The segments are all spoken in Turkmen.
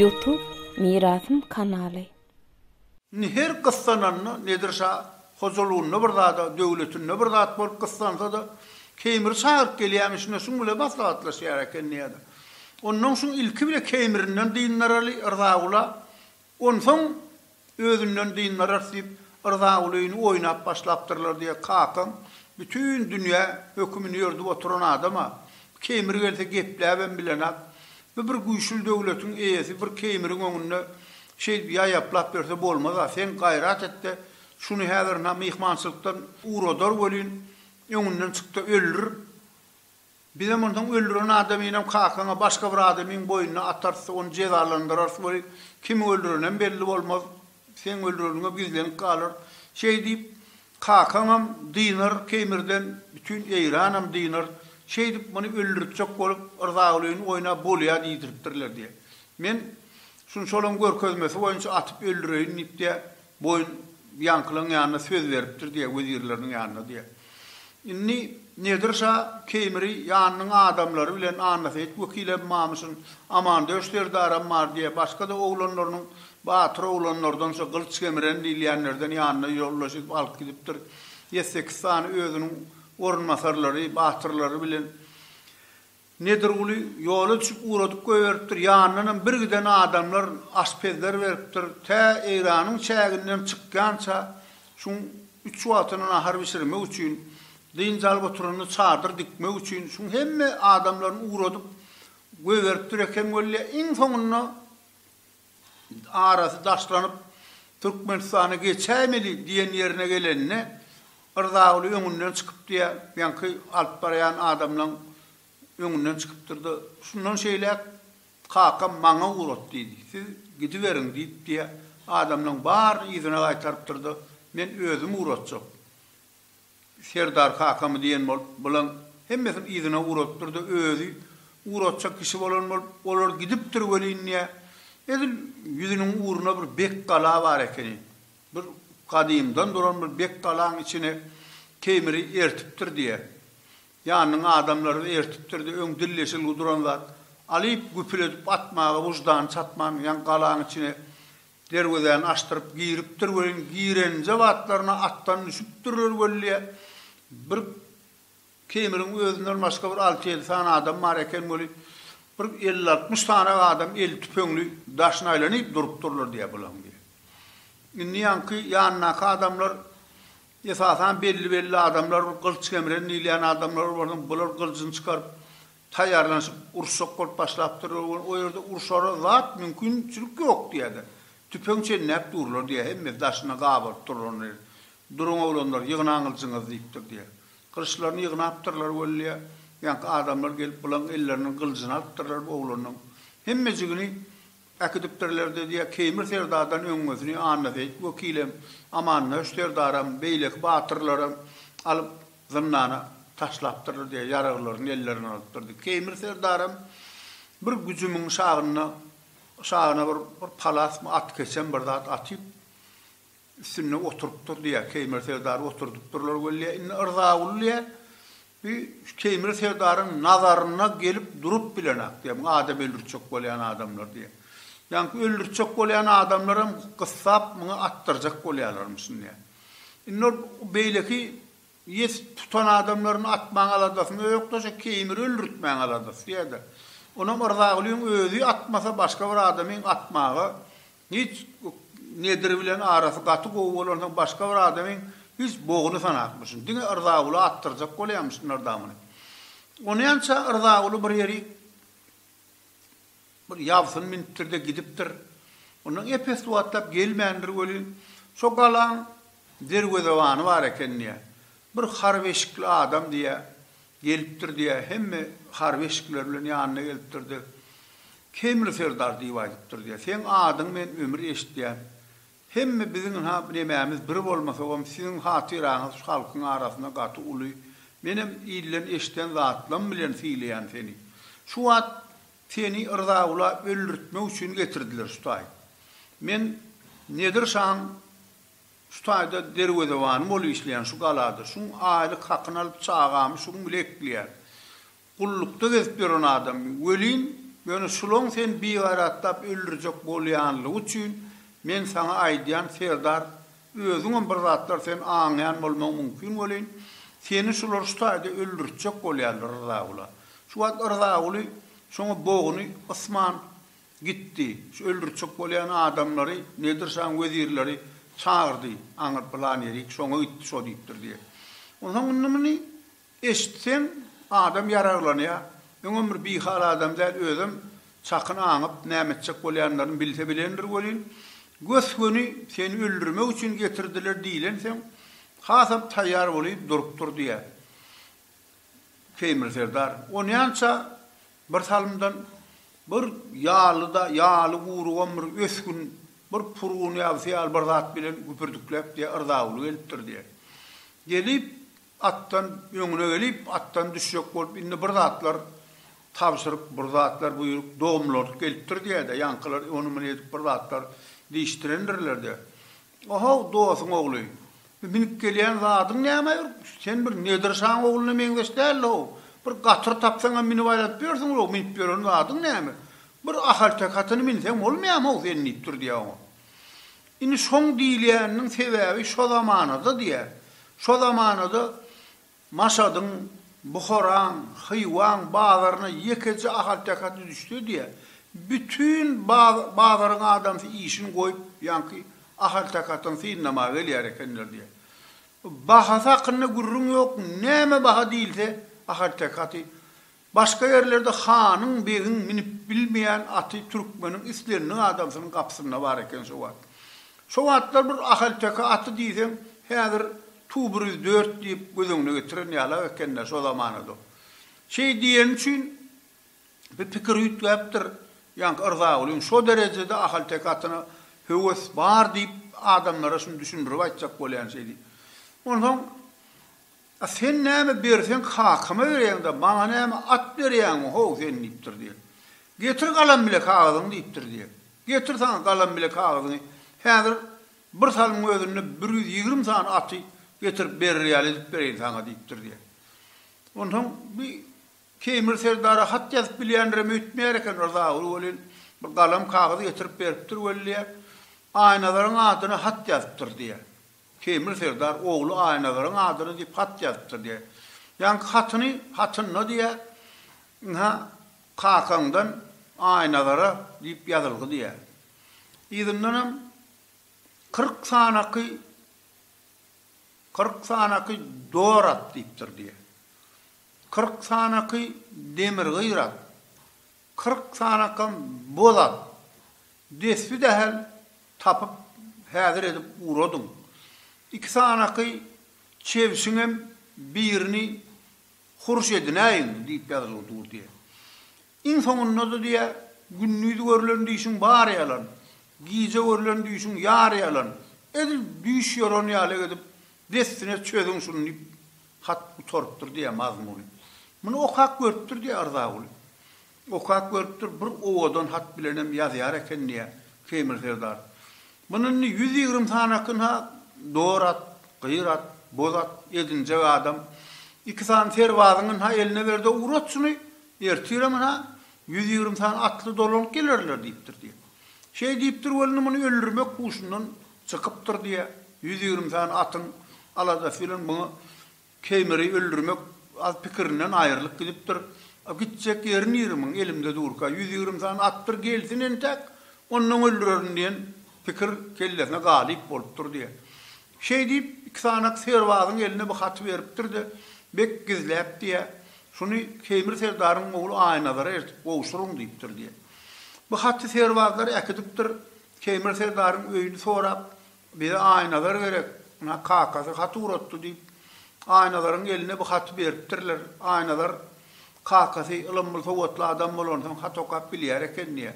Youtube Mirasym kanaly. Indi her gyssananda Nedir şa hojalygynda bir zada, döwletinde bir zat bolup gyssansa-da, Keýmiri çagyryp gelýärmiş, ine şuň bile maslahatlaşýar ekeni ýa-da. Onnoň şuň ilki bile Keýmirinden dyndaraly, Rzagula Onsoň özünden dyndarys diýip Rzagulyny oýnap başlapdyrlar diýe kakaň bütin dünýä hökümini ýördüp oturan adama Keýmir gelse gepläbem bilenak bu bir güýçli döwletiň eýesi bir Keýmiriň öňünde şeýdip ýaýaplap ýörse bolmaza sen gaýrat etde şuny häzir na myhmançylykdan uradar welin öňünden çykda öldür Bizem onsoň öldüren adamynam kakaňa başga bir adamyň boýnuna atarys, ony jezalandyrarys weli, kimiň öldürenem belli bolmaz, seň öldüreniňem gizlenip galar. Şeý diýip, kakaňam dynar Keýmirden, bütin Eýranam dynar. Şeýdip, muny öldüritjek bolup, Yrzagulyny oýnap bolýar diýdiripdirler diýýär. Men şunçalygyň görkezmesi boýunça atyp öldüreýin diýip diýýär. Boýun ýaňkylaň ýanyna söz beripdir diýýär, wezirleriniň ýanyna diýýär. Indi Nedir şa Keýmiri ýanynyň adamlary bilen Annaseýit wekilem mamşyn, Amandöş serdaram bar diýýär, başga-da oglanlarynyň batyr oglanlardan şo Gylyç Kemiren diýilýänlerden ýanyna ýoldaş edip alyp gidipdir. Ýedi-sekiz sany özüniň orunbasarlary, batyrlary bilen Nedirguly ýola düşüp ugradyp goýberipdir, ýanyndanam bir giden adamlar aşpezler beripdir, tä eýranyň çäginden çykýança şuň üç wagtyna nahar bişirmek üçin, dynç alyp oturanda çadyr dikmek üçin şuň hemme adamlaryny ugradyp goýberipdir eken weli, iň soňunda. arasy daşlanyp, Türkmenistana geçäýmeli diýen ýerine gelende, Rzaguly öňünden çykypdy-ä, ýaňky alyp barýan adamlaň öňünden çykypdyr-da, Şundan şeýläk kakam maňa ugrat diýdi, siz gidiberiň diýipdi-ä, adamlaň baryny yzyna gaýtarypdyr-da, Men özüm ugratjak. Serdar kakamy diýen bolup, bulaň hemmesini yzyna ugradypdyr-da, özi ugratjak kişi bolan bolup, olar gidipdir welin, diýýä, edil ýüzüniň ugruna bir bek gala bar ekeni. Bir gadymdan duran bir bek galaň içine Teýmiri ertipdir, diýýä. Ýanynyň adamlary-da ertipdir-de, öň dilleşilgi duran zat, alyp, güpül edip atmaga wyždany çatman, ýaňy galaň içine Derwezäni açdyryp giripdir welin, girenje batlaryna atdan düşüpdirler weli, bir Keýmiriň özünden başga bir alty-ýedi sany adam bar eken weli, bir elli-altmyş sany adam eli tüpeňli daşyna aýlanyp durupdyrlar diýýär bulaň diýýär. Indi ýaňky ýanyndaky adamlar esasan belli-belli adamlar, bir gylyç gemren diýilýän adamlar bolsa, bular gylyjyny çykaryp, Taýýarlanyşyp uruşjak bolup başlapdyrlar we o ýerde urşara zat mümkinçilik ýok diýýärler. Tüpeň çenläp durlar diýýär, hemmesi daşyna gabaryp durlar ony. Duruň oglanlar, ýygnaň gylyjyňyzy diýipdir diýýär. Gylyçlaryny ýygnapdyrlar weli, ýaňky adamlar gelip bulan elleriniň gylyjyny alypdyrlar oglanyň. Hemmejigini. Äkidipdirler-de, diýýär. Keýmir serdardan öňňesini Annaseýit wekilem, Amandöş serdaram, beýleki batyrlaram alyp, zyndana taşlapdyrlar, diýýär, ýaraglaryny ellerinden alypdyr, diýip. Keýmir serdaram bir güjümiň şagyna, şagyna bir palasmy, atkeçem bir zat atyp, Üstünde oturypdyr diýýär. Keýmir serdary oturdypdyrlar weli, indi Yrzagul diýýär, bi şu Keýmir serdaryň nazaryna gelip durup bilenak diýýär, muň adam öldürtjek bolýan adamlar diýýär. Ýaňky öldürtjek bolýan adamlaram gyssap muňa atdyrjak bolýalarmyşyn diýýär. Indi ol beýleki ýes tutan adamlaryny atmaň aladasynda ýok-da, şu Keýmiri öldürtmäň aladasy diýýär-de. Onam Yrzagulyň özi atmasa başga bir adamyň atmaga Hiç Nedir bilen arasy gaty gowy bolansoň başga bir adamyň hiç bogyny sanapmyşyn. Diňe Yrzaguly atdyrjak bolýamyşyn Nyrdamuny. Onýança Yrzaguly bir ýeri bir ýabsyn münüpdir-de gidipdir. Ondan epes wagtlap gelmändir welin, şo galaň derwezebany bar eken diýýär. Bir harbeşikli adam diýýär. Gelip durdy ýa hemme harby eşikler bilen ýanyna gelip durdy. Kemri serdar diýip aýdyp durdy ýa seň adyň men ömür eşitýän. Hemme biziň ha nemämiz bir bolmasagam siziň hatyraňyz şu halkyň arasynda gaty uly. Menem ilden eşden zatlam bilen sylaýan seni. Şu wagt seni yrzagula öldürtmek üçin getirdiler şu taýy. Men Nedir şaň Şu taýda derwezebanym bolup işleýän şu galada. Şuň aýlyk hakyny alyp, çagamy şuň bile ekleýän. Gullukda gezip ýören adam welin, ýöne şulaň seni bigaýratlap öldürjek bolýanlygy üçin men saňa aýdýan, serdar, özüňem bir zatlar sen aňýan bolmaň mümkin welin, seni şular şu taýda öldürtjek bolýarlar Rzaguly. Şu wagt Rzaguly şoňa boguny ysman Gitdi. Şu öldürtjek bolýan adamlary Nedir şaň wezirleri çagyrdy. Aňyr pylan ýerik şoňa gitdi, şo diýipdir diýýär. Onsoň indi muny eşitseň, adam ýaraglanýar. Öňem bir bihal adam däl, özem çakyn aňyp, näme etjek bolýanlaryny bilse bilendir welin, gös-göni seni öldürmek üçin getirdiler diýlensoň, hasam taýýar bolup durupdyr diýýär. Teýmir serdar onýança bir salymdan bir ýalyda, ýaly gurugan bir ösgün, bir purgun ýabysy ýaly bir zat bilen güpürdikläp diýýär, yrdawuly gelipdir diýýär. Gelip, atdan, öňüne gelip, atdan düşjek bolup, indi bir zatlar tabşyryk, bir zatlar buýruk, domlardyp gelipdir diýýär-de, ýaňkylar ony-muny edip bir zatlar diýişdirendirler-de, Ohow, dosyň ogly, bu minip gelýän zadyň näme? Sen bir Nedir şaň ogluna meňzeş däl-ow. Bir gatyr tapsaňam minip aýlanyp ýörsüň-ow, minip ýören zadyň näme? Bir ahalteke atyny minseň bolmaýamy-ow sen diýipdir diýýär oňa. Indi şoň diýilýäniniň sebäbi şo zamanada diýýär. Şo zamanada Maşadyň, Buharaň, Hywaň bazaryna ýekeje ahalteke at üzüşse diýä, bütin bazaryň adamsy işini goýup, ýaňky ahalteke atyny synlamaga gelýär ekenler diýä. Bahasy hakynda gürrüň ýok, näme baha diýilse, ahalteke aty Başga ýerlerde hanyň, begiň minip bilmeýän aty türkmeniň islendik adamsynyň gapysynda bar eken şo wagt. Şo wagtlar bir ahalteke aty diýseň, häzir tu bir ýüz dört diýip göz öňüne getiren ýalak eken-dä şo zamanada. Şeý diýeni üçin bir pikir üýtgäpdir ýaňky Yrzagulyň, şo derejede ahalteke atyna höwes bar diýip adamlara şuny düşündirip aýtjak bolýan şeý diýip. Onsoň. A sen näme berseň kakama bereýiň-de, maňa näme at berýäňmi, ho, sen? diýipdir diýe. Getir galam bile kagyzyňy diýipdir diýe. Getir saňa galam bile kagyzyňy. Häzir bir salymyň özünde bir ýüz ýigrimi sany aty getirip berer ýaly edip bereýin saňa diýipdir diýe. Onsoň bi Keýmir serdara hat ýazyp bilýändirem öýtmeýär eken Rzaguly welin, bir galam kagyz getirip beripdir welin diýe, Aýnazaryň adyna hat ýazypdyr diýe. Teýmir serdar ogly Aýnazaryn adyna diýip hat ýazypdyr diýär. Ýaňky hatyny hatynda diýär, ynha, kakaňdan Aýnazara diýip ýazylgy diýär. Yzyndanam kyrk sanaky kyrk sanaky dor at diýipdir diýär. Kyrk sanaky demirgyr at. Kyrk sanakam bolar. Desbi dahel tapyp häzir edip uradyň. Iki sanaky çebşiňem birini hurş edinäýiň, diýip ýazgyny durdýa. Iň soňunda-da diýýä, Gündiz görlen düýşüň bary ýalan, gije görlen düýşüň ýary ýalan, edil düýş ýoran ýaly edip dessine çözüň şuny diýip Hat gutarypdyr, diýýär Mazmuny. Muny okap görüpdir, diýýär Yrzaguly. Okap görüpdir, bir owadan hat bilenem ýazýar eken, diýýär Keýmir serdar. Muny indi ýüz ýigrimi sanakin-ha dor at, gyr at, boz at edinjek adam. Iki sany serbazyňy-ha eline ber-de ugrat şuny, ertirem-ha ýüz ýigrimi sany atly dolanyp gelerler, diýipdir, diýýär. Şeý diýipdir welin, muny öldürmek huşundan çykypdyr, diýýär. Ýüz ýigrimi sany atyň Aladasy bilen muňa Keýmiri öldürmek az pikirinden aýrylyp gidipdir. A gitjek ýeri nire muň, elimde durka, ýüz ýigrimi sany atdyr gelsin entäk, onnoň öldürerin diýen pikir kellesine galyp bolupdyr diýýär. Şeý diýip, iki sanak serbazyň eline bu haty beripdir-de, Bek gizläp diýýär, Şuny Keýmir serdaryň ogly Aýnazara eltip gowşuryň diýipdir diýýär. Bu haty serbazlar äkidipdir, Keýmir serdaryň öýüni sorap, Bize Aýnazar gerek. Muňa kakasy hat ugratdy, diýip, Aýnazaryň eline bu haty beripdirler. Aýnazar kakasy ylymly, sowatly adam bolansoň, hat okap bilýär eken diýýär.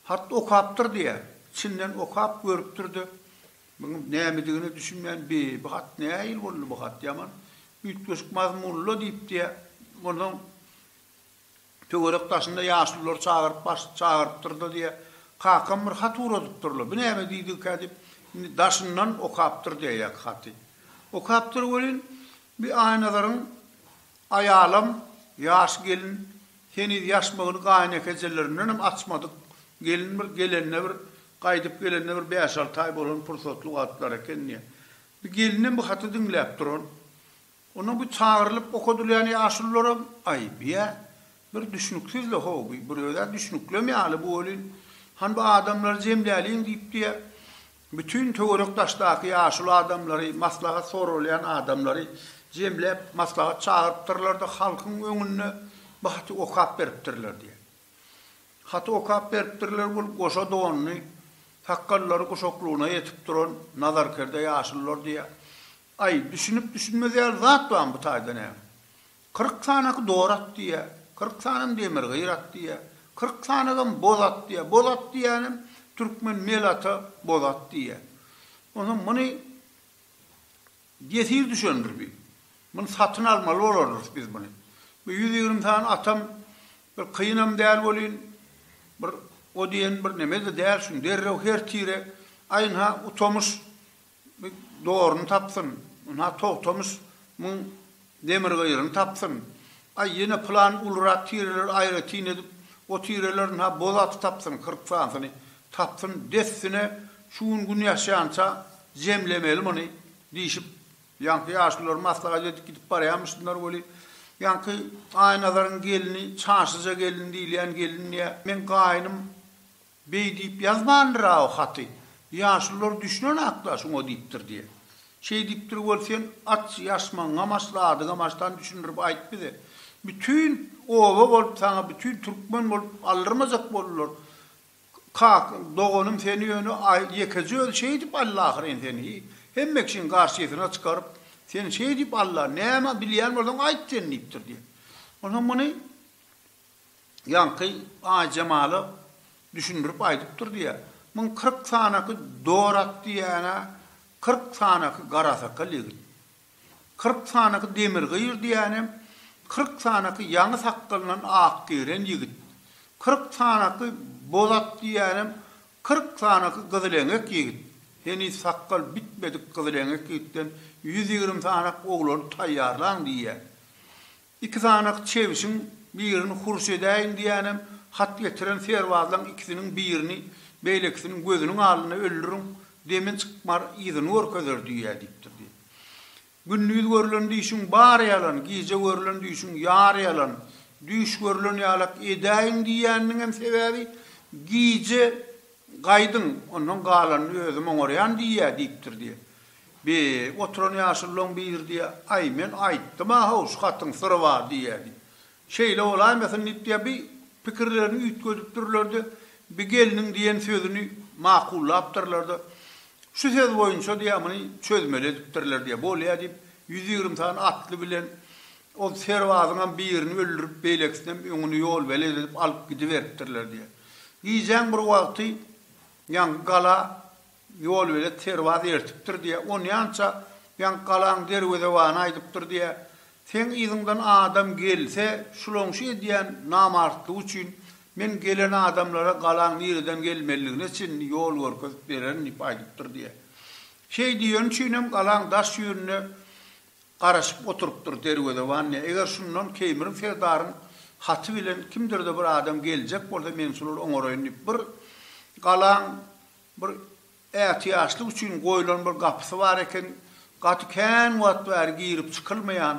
Hat okapdyr diýýär. Çinden okap görüpdir-de, munuň nämedigine düşünmän, Bi, bu hat nähili boldy, bu hat ýaman üýtgeşik mazmunly-la diýipdir. Onsoň Töwerek daşynda ýaşululary çagyryp baş çagyrypdyr-da diýýä. Kakam bir hat ugradypdyr-la. Bu näme diýdigikä diýip, indi daşyndan okapdyr diýýäýk haty. Okapdyr welin, bi Aýnazaryň aýalam ýaş gelin, heniz ýaşmagyny gaýynekejelerindenem açmadyk gelin bir gelende bir, gaýdyp gelende bir bäş-alty aý bolan pursatly wagtlary eken diýýä. Bi gelinem bu haty diňläp duran. Onda bu çagyrylyp okadylýan ýaşulularam aýyp, ýa? Bir düşnüksiz-le, ho, bu bir öz-ä düşnüklem ýaly bu welin. Han bu adamlary jemläliň diýipdi-ä. Bütin töwerek-daşdaky ýaşuly adamlary, maslahat soralýan adamlary jemläp, maslahat çagyrypdyrlar-da, halkyň öňünde bu haty okap beripdirler diýýär. Haty okap beripdirler bul goşa donly, sakgallary guşaklygyna ýetip duran nazarkerde ýaşulular diýýär. Aý, düşünip-düşünmez ýaly zat barmy bu taýda näme? Kyrk sanaky dor at diýýä, kyrk sanam demirgyr at diýýä, kyrk sanagam boz at diýýä, boz at diýýänem türkmen mel ata boz at diýýä. Onsoň muny ýesir düşendir bi. Muny satyn almaly bolardyrys biz muny. Bu ýüz ýigrimi sany atam bir kynam däl welin, bir o diýen bir neme-de däl, şuny derrew her tire, aýn-ha utamyş Mik doryny tapsyn, ynha Togtamyş myň demirgyryny tapsyn. Aý, ýene pylan ulurak tireleri aýratyn edip, o tireler ynha boz aty tapsyn, kyrk sanysyny tapsyn, dessine şu gün gün ýaşýança jemlemeli muny, diýşip, ýaňky ýaşulylar maslahat edip gidip barýamyşdylar weli, ýaňky Aýnazaryň gelni, Çaşyja gelin diýilýän gelin diýýär, meň gaýnym Beý diýip ýazmandyr-a o haty. Ýaşulylar düşünen hakda şuňa diýipdir diýe. Şeý diýipdir bol sen aç ýaşmagyňam aç zadyňam açdan düşündirip aýt bize. Bütin oba bolup saňa bütin türkmen bolup aldyrmajak boldular. Kaka doganym seni ýöne ýekeje özi şeý diýip aldy ahyryn seni hemme kişiň garşysyna çykaryp seni şeý diýip aldy-a näme bilýän bolsaň aýt sen diýipdir diýe. Onsoň muny Ýaňky Aýjemala düşündirip aýdypdyr diýýär. Muň kyrk sanaky dorat diýýän-ä, kyrk sanaky garasakal ýigit. Kyrk sanaky demirgyr diýýänem, kyrk sanaky ýaňy sakgalyndan ak giren ýigit. Kyrk sanaky bozat diýýänem, kyrk sanaky gyzyleňek ýigit. Heniz sakgal bitmedik gyzyleňek ýigitden ýüz ýigrimi sanak oglany taýýarlaň diýýär. Iki sanak çebişiň birini hurş edäýiň diýänem, hat getiren serbazlaň ikisiniň birini beýlekisiniň gözüniň alynda öldüriň, demin çykmar, yzyny görkezer düýe diýipdir diýip. Gündiz görlen düýşüň bary ýalan, gije görlen düýşüň ýary ýalan. Düýş görlen ýalak edäýiň diýýäniniňem sebäbi, gije gaýdyň, ondan galanyny özüm oňarýan düýe diýipdir diýip. Bi, oturan ýaşulylaň biri diýýär, Aý, men aýtdym-a-haw, şu hatyň syry bar diýýär, diýip. Şeýle bolaýmasyn diýip diýýär, bi pikirlerini üýtgedipdirler-de, bi gelniň diýen sözüni makullapdyrlar-da, Şu söz boýunça diýýär, muny çözmeli edipdirler diýýär. Bolýa diýip, ýüz ýigrimi sany atly bilen ol serbazyňam birini öldürip, beýlekisinem öňüni ýolbelet edip alyp gidiberipdirler diýýär. Gijäň bir wagty ýaňky gala. Ýolbelet serbaz ertipdir diýýä, onýança ýaňky galaň derwezebany aýdypdyr diýýä, Seň yzyňdan adam gelse, şulaň şu edýän namartlygy üçin men gelen adamlara galaň nireden gelmelidigine çenli ýol görkezip bererin diýip aýdypdyr diýýä. Şeý diýeni üçinem galaň daş ýüzünde garaşyp oturypdyr derwezeban diýýä, Eger şundan Keýmirin serdaryň haty bilen kimdir-de bir adam geljek bolsa, men şolary oňaraýyn diýip, bir galaň Bir ätiýaçlyk üçin goýlan bir gapysy bar eken, gaty kän wagt bäri girip çykylmaýan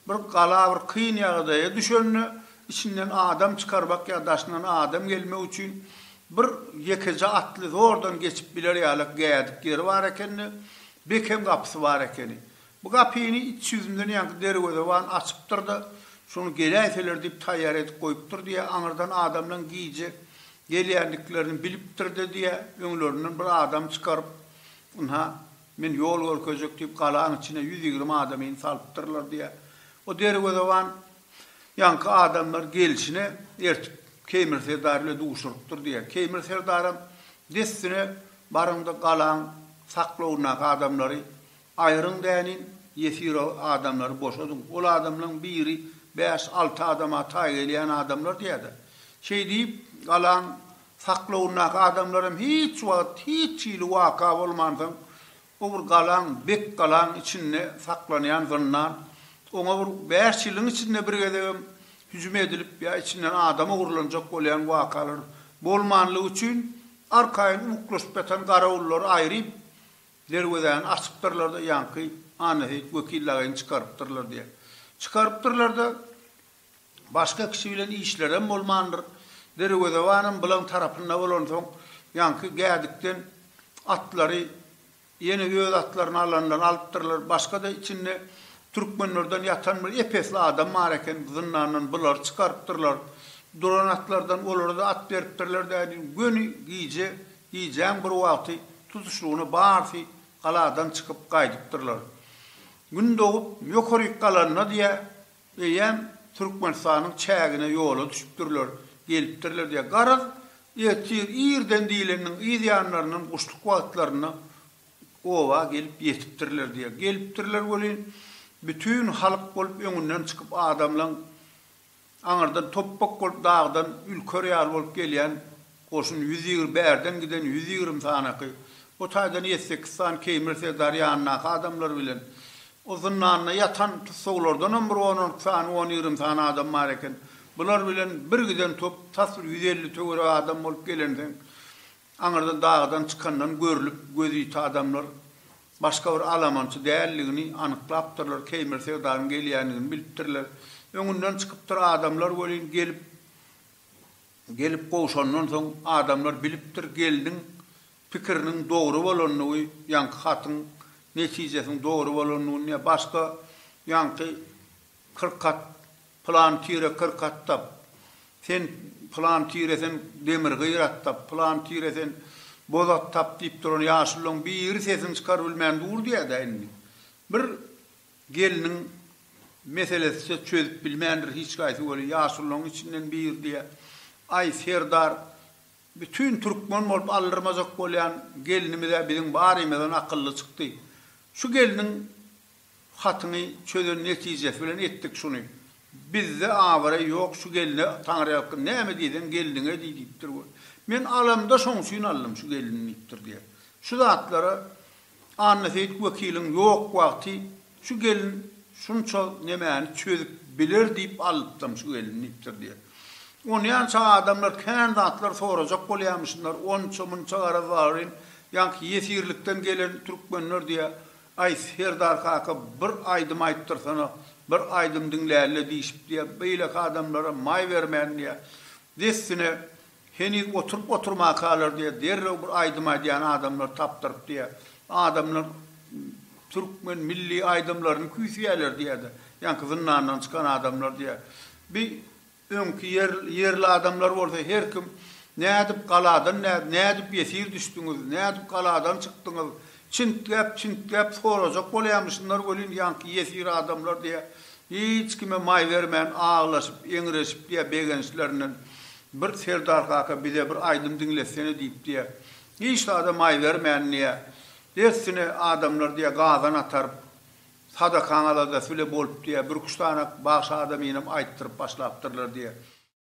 bir gala bir kyn ýagdaýa düşende içinden adam çykarbak ýa daşyndan adam gelmek üçin bir ýekeje atly zordan geçip biler ýalak gädik ýeri bar ekeni, bekem gapysy bar ekeni. Bu gapyny iç ýüzünden ýaňky derwezeban açypdyr-da, şony geläýseler diýip taýýar edip goýupdyr diýýär. Aňyrdan adamlaň gije gelýändiklerini bilipdir-de diýýär. Öňlerinden bir adam çykaryp, ynha, men ýol görkezjek diýip, galaň içine ýüz ýigrimi adamyny salypdyrlar diýýär. O derwezeban ýaňky adamlar gelşine ertip, Keýmir serdar bile duşurypdyr diýýär. Keýmir serdaram dessine, Baryň-da, galaň saklawyndaky adamlary Aýryň däniň, ýesiro adamlary boşadyň. Ol adamlaň biri bäş, alty adama taý gelýän adamlar diýýär-de. Şeý diýip, galaň saklawyndaky adamlar hem hiç wagt, hiç hili waka bolmansoň, o bir galaň, bek galaň içinde saklanýan zyndan, oňa bir bäş ýylyň içinde bir gezegem hüjüm edilip ýa içinden adam ogurlanjak bolýan wakalar bolmanlygy üçin, arkaýyn uwuklaşyp ýatan garawullary aýryp, Derwezäni açypdyrlar-da, ýaňky Annaseýit wekil lageýini çykarypdyrlar diýýär. Çykarypdyrlar-da, başga kişi bilen işlerem bolmandyr. Derwezebanam bulaň tarapynda bolansoň, ýaňky Gädikden atlary, ýene öz atlaryny alanlar alypdyrlar. Başga-da içinde türkmenlerden ýatan bir ep-esli adam bar eken, zyndandan bulary çykarypdyrlar. Duran atlardan olara-da at beripdirler dädin. Göni gije Gijäň bir wagty tutuşlygyna barsy galadan çykyp gaýdypdyrlar. Gün dogup ýokaryk galanda diýä, eýýäm Türkmenistanyň çägine ýola düşüpdirler, gelipdirler diýä. Garaz, ertir irden diýleniniň yz ýanlaryndan guşluk wagtlarynda oba gelip ýetipdirler diýä. Gelipdirler welin, bütin halk bolup öňünden çykyp adamlaň Aňyrdan topbak bolup dagdan ülker ýaly bolup gelýän goşun ýüz ýigr bärden giden ýüz ýigrimi sanaky, o taýdan ýedi-sekiz sany Keýmir serdar ýanyndaky adamlary bilen, o zyndanda ýatan tussaglardanam bir on-on iki sany, on ýigrimi sany adam bar eken. Bular bilen bir giden top tas bir ýüz elli töweregi adam bolup gelensoň, Aňyrda dagdan çykandan görlüp gözüýti adamlar başga bir alamançy däldigini anyklapdyrlar, Keýmir serdaryň gelýändigini bilipdirler. Öňünden çykypdyr adamlar welin gelip gelip gowşandan soň adamlar bilipdir gelniň pikiriniň dogry bolandygy ýaňky hatyň netijesiniň dogry bolandygyny ýa başga ýaňky Kyrk at, pylan tire kyrk at tap, Sen, pylan tire sen demir gyr at tap, pylan tire sen boz at tap diýip duran ýaşululaň biri sesini çykar bilmän dur diýädä indi. Bir gelniň meselesise çözüp bilmändir hiç gaýsy weli ýaşululaň içinden biri diýä, Aý, serdar, bütin türkmen bolup aldyrmajak bolýan gelnimiz-ä biziň barymyzdan akylly çykdy. Şu gelniň Hatyny çözen netijesi bilen etdik şuny. Bizde abraý ýok şu gelne Taňryýalkyn näme diýseň gelniňe diý diýipdir we men alamda şoň üçin aldym şu gelni diýipdir diýýär. Şu zatlara Annaseýit wekiliň ýok wagty şu gelin şunça nemäni çözüp biler diýip alypdyryn şu gelni diýipdir diýýär. Onýança adamlar kän zatlar sorajak bolýamyşynlar onça-munça garaz bagryň ýaňky ýesirlikden gelen türkmenler diýýär. Aý, serdar kaka, bir aýdym aýtdyrsana, bir aýdym diňläli-le diýşipdi-ä, beýleki adamlara maý bermändi-ä. Dessine, heniz oturyp-oturmakalar-da, derrew bir aýdym aýdýan adamlar tapdyrypdy-ä. Adamlar türkmen milli aýdymlaryny küýseýärler-diýýärdi, ýaňky zyndandan çykan adamlar-diýýär. Bi Öňki ýerli adamlar bolsa her kim, Nädip galadan nädip, nädip ýesir düşdüňiz, nädip galadan çykdyňyz, çintgäp, çintgäp sorajak bolýamy şunlar welin ýaňky ýesir adamlar diýe, hiç kime maý bermän aglaşyp, eňreşip diýe begençlerinden, Bir serdar kaka bize bir aýdym diňletsene diýip diýe, hiç zada maý bermän diýe, dessine adamlar diýe gazan ataryp, Sadakaň aladasy bile bolupdy ýa, birküç sany bagşy adamynam aýtdyryp başlapdyrlar diýýär.